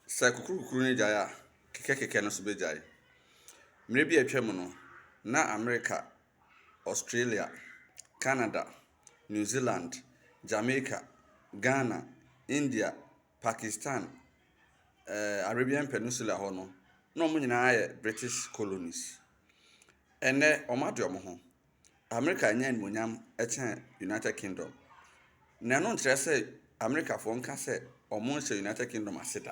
Sɛ kukurukukuru no gyae a, kekɛkekɛ no nso begyae. Mmere bi a atwam no, na Amerika, Australia, Canada, New Zealand, Jamaica, Ghana, India, Pakistan, eh, Arabian Peninsula hɔ no, na wɔn nyinaa yɛ British colonies. Ɛnnɛ, wɔade wɔn ho. Amerika nya animuonyam kyɛn United Kingdom, na ɛno nkyerɛ sɛ Amerikafoɔ nka sɛ wɔnhyɛ United Kingdom ase da.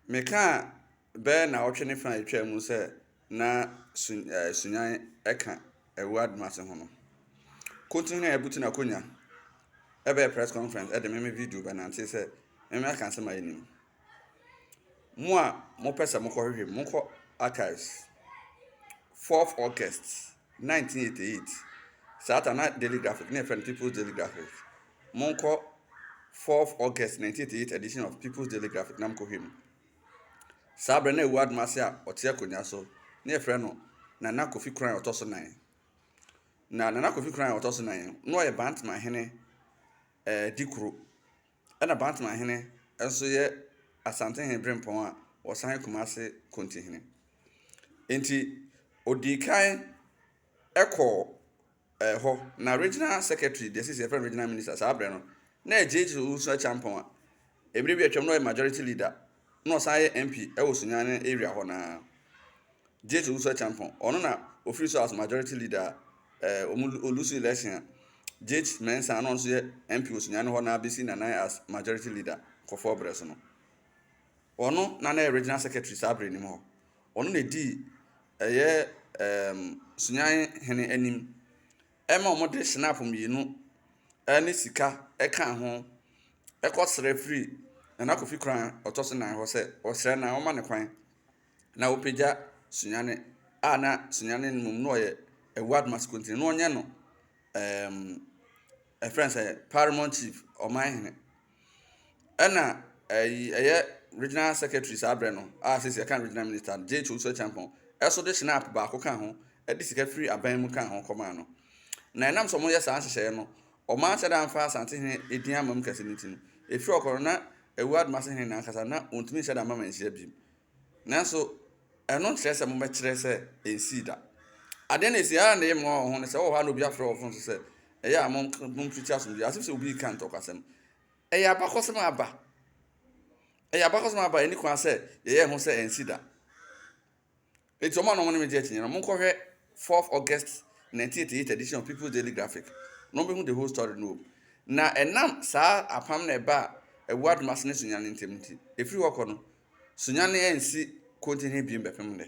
Mekaa bɛyɛ nnawɔtwe ne fa a ɛtwaa mu sɛ na su ɛɛ Sunyani ka awuo adomase ho no. Kontini na ɛbutu n'akonnwa ɛbɛyɛ press conference ɛde me me video bɛnante sɛ mɛmɛ aka nsɛm a ɛnnim. Mo a mopɛ sɛ mokɔhwehwɛ mu, monkɔ Archives, 4th August 1988. Saa ta na Daily Graphic, na yɛfrɛ no People's Daily Graphic. Monkɔ 4th August 1988 edition of People's Daily Graphic na mokɔhwɛ mu. Saa berɛ na ɛwɔ adom ase a ɔte akonnwa so, na yɛfrɛ no Nana Kofi Koran ɔtɔ so nan. Na Nana Kofi Koran ɔtɔ so nan, na ɔyɛ Bantama hene ɛɛ dikuro. Ɛna Bantama hene nso yɛ Asantehene Brempɔn a ɔsan yɛ Kumase Kontihene. Enti ɔdii kan kɔɔ ɛɛ hɔ, na Regional Secretary, deɛ sisi yɛfrɛ no Regional Minister saa berɛ no, na ɛyɛ JJ Owusu-Acheampong a mmerɛ bi atwam na ɔyɛ Majority Leader na ɔsan yɛ MP wɔ Sunyani area hɔ no ara, Jate Owusu Acheampong. Ɔno na ɔfiri so as majority leader a eh, ɔmo lu- ɔlusu election a Jate Mensah a na ɔno nso yɛ MP wɔ Sunyani hɔ no ara bɛsi Nanan as majority leader kɔfɔɔ berɛ so no. Ɔno na na ɛyɛ regional secretary saa berɛ no mu hɔ. Ɔno na ɛdii ɛyɛ em, Sunyani hene anim ɛma wɔde shenaf mmienu ne sika ka ho kɔsrɛ firi Nana Kofi Kran a ɔtɔ so nnan hɔ sɛ ɔsrɛ na wɔma no kwan na ɔpagya Sunyani a na Sunyani no mmom na ɔyɛ Ward Masikontini na ɔnyɛ no ɛɛm ɛfrɛ no sɛ Paramount Chief, Ɔmanhene. Ɛna ɛyi ɛyɛ regional secretary saa berɛ no a sɛ sɛ ɛka regional minister no J. Kyonsu Acheampong ɛso de Schnapp baako ka ho ɛde sika firi aban mu ka ho kɔmaa no. Na ɛnam sɛ wɔyɛ saa nhyehyɛeɛ no wɔn anhyɛ da amfa Asantehene edin ammam kɛse no nti no, ɛfiri ɔkɔ no na Awu Adomase hene no ankasa na wɔntumi nhyɛ da mma manhyia bio. Nanso, ɛno nkyerɛ sɛ mobɛkyerɛ sɛ ɛnsii da. Adeɛ no ɛsii, ara na ɛyɛ mmoa wɔ ho no sɛ wɔ hɔ a na obi afrɛ wɔ fon so sɛ, ɛyɛ a mompirikyi asomdwoeɛ, as if sɛ obi reka ntɔkwasɛm. Ɛyɛ abakɔsɛm a aba. Ɛyɛ abakɔsɛm a aba, ɛnni kwan sɛ yɛyɛ ho sɛ ɛnsi da. Enti wɔn a na wɔne me gye akyinnyeɛ no, monkɔhwɛ 4th August 1988 edition of People's Daily Graphic na mobɛhu the whole story no wɔ mu. Na ɛnam saa apam no a ɛbaa Awuradom Asene Sunyani ntam nti, ɛfiri hɔ kɔ no, Sunyani ennsi Kogi he bio bɛpem nnɛ.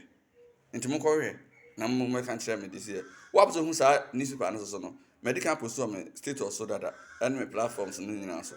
Nti monkɔhwehwɛ na mo mmɛka nkyerɛ me de si ɛ. Woap so hu saa newspaper no so so no, madi kan postɔɔ me status so dada ne me platforms no nyinaa so.